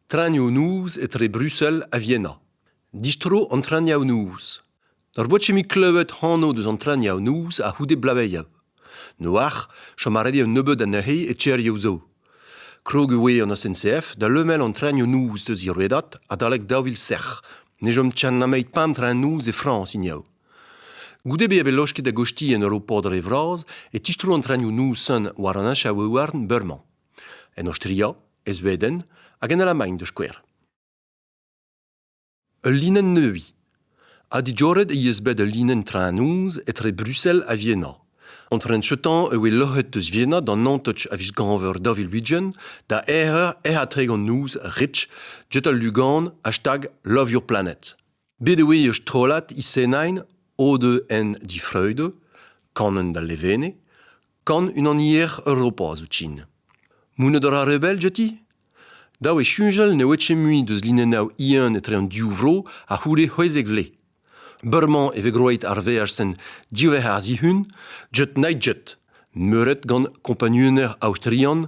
Traoñioù-noz etre Brussel ha Vienna. Distro an traoñioù-noz. Ur bochemig klevet anv deus an traoñioù-noz a-c'houde blaveia. Noac'h, chom a redi un nebeud anezhe e Tcherioù zo. Krog e oe an SNCF da lemel an traoñioù-noz deus he redad adalek daou vil sec'h. Ne chom tchan nameit pemp traoñ-noz e Frañs hiniv. Goude bezañ bet losket da gostiñ en ur ho pod re vras e tistro an trenioù-noz-sen war an achaouhouarn beurmañ. En Aostria, e Sveden hag en Alamagn da skouer. Ul linenn neuiñ. Ha dijoret he eus bet ul linenn traoñ-noz etre Bruxelles ha Vienna. An tren seutañ e oe loc'het eus Vienna d'an Antotch a viz Gañver daou vil ugent da aerer ec'h atregan noz rich jet al lugan hashtag Love Your Planet. Bet e oe ur strollad isenain o-deus en difreud, kanen da Levene, kan unanier Europa zoutsin. Mouned a ra re bell diouti? Dav eo soñjal ne oe ket mui deus linennav Ian etre an div vro a c'houde c'hwezek vle. Beurmañ e vez groeit ar veaj-sen diwec'h ar zihun, jet night-jet, meuret gant kompagnunezh aostrian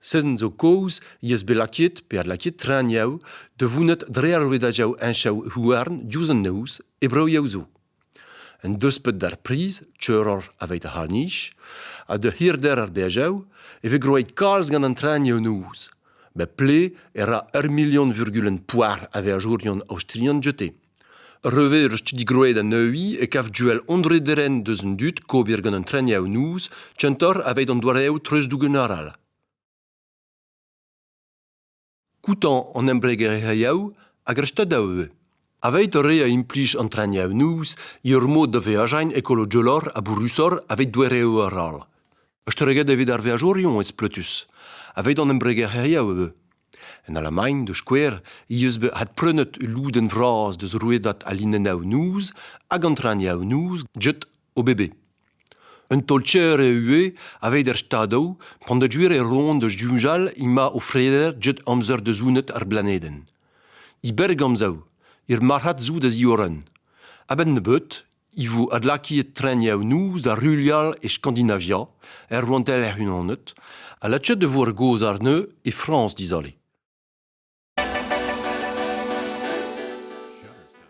Seden zo kozh he eus bet lakaet pe adlakaet traoñiaoù da vounat dre ar rouedadoù heñchañ houarn diouzh an noz e broioù zo. Un deuspeud d'ar priz, teuroc'h aveit ar c'harr-nij, ha da hirder ar beajoù e vez groet kalz gant an traoñiañ noz. Bep ple e ra ur million virgulenn poar a veajourion aostrian dioute. Re veurus digroet a-neuze e kav Joel Andre Deren deus an dud kober gant an treniaoù-noz kentoc'h aveit an doareoù treuzdougen arall. Koutañ an embregerezhioù hag ar stadoù ivez. Aveit re a implij an treniaoù-noz ur mod da veajañ ekologolor ha bourrusoc'h aveit doareoù arall. Estreget evit ar veajourion ez pletus. Aveit an embregerezhioù ivez. En Alamagn, da skouer, he eus bet adprenet ul lodenn vras deus rouedad al linennoù-noz hag an traoñiennoù jet OBB. Un taol-cher eo ivez aveit er Stadoù p'en deus gwir e roan da soñjal emañ o freder jet amzer da zonet ar blanedenn. E berr-amzer, er marc'had zo da ziorren. A-benn nebeut e vo adlakaet trenioù-noz da ruilhal e Skandinavia, er rouantelezh hec'h-unanet, ha lakaet e vo ar gaoz àrne e Frañs dizale.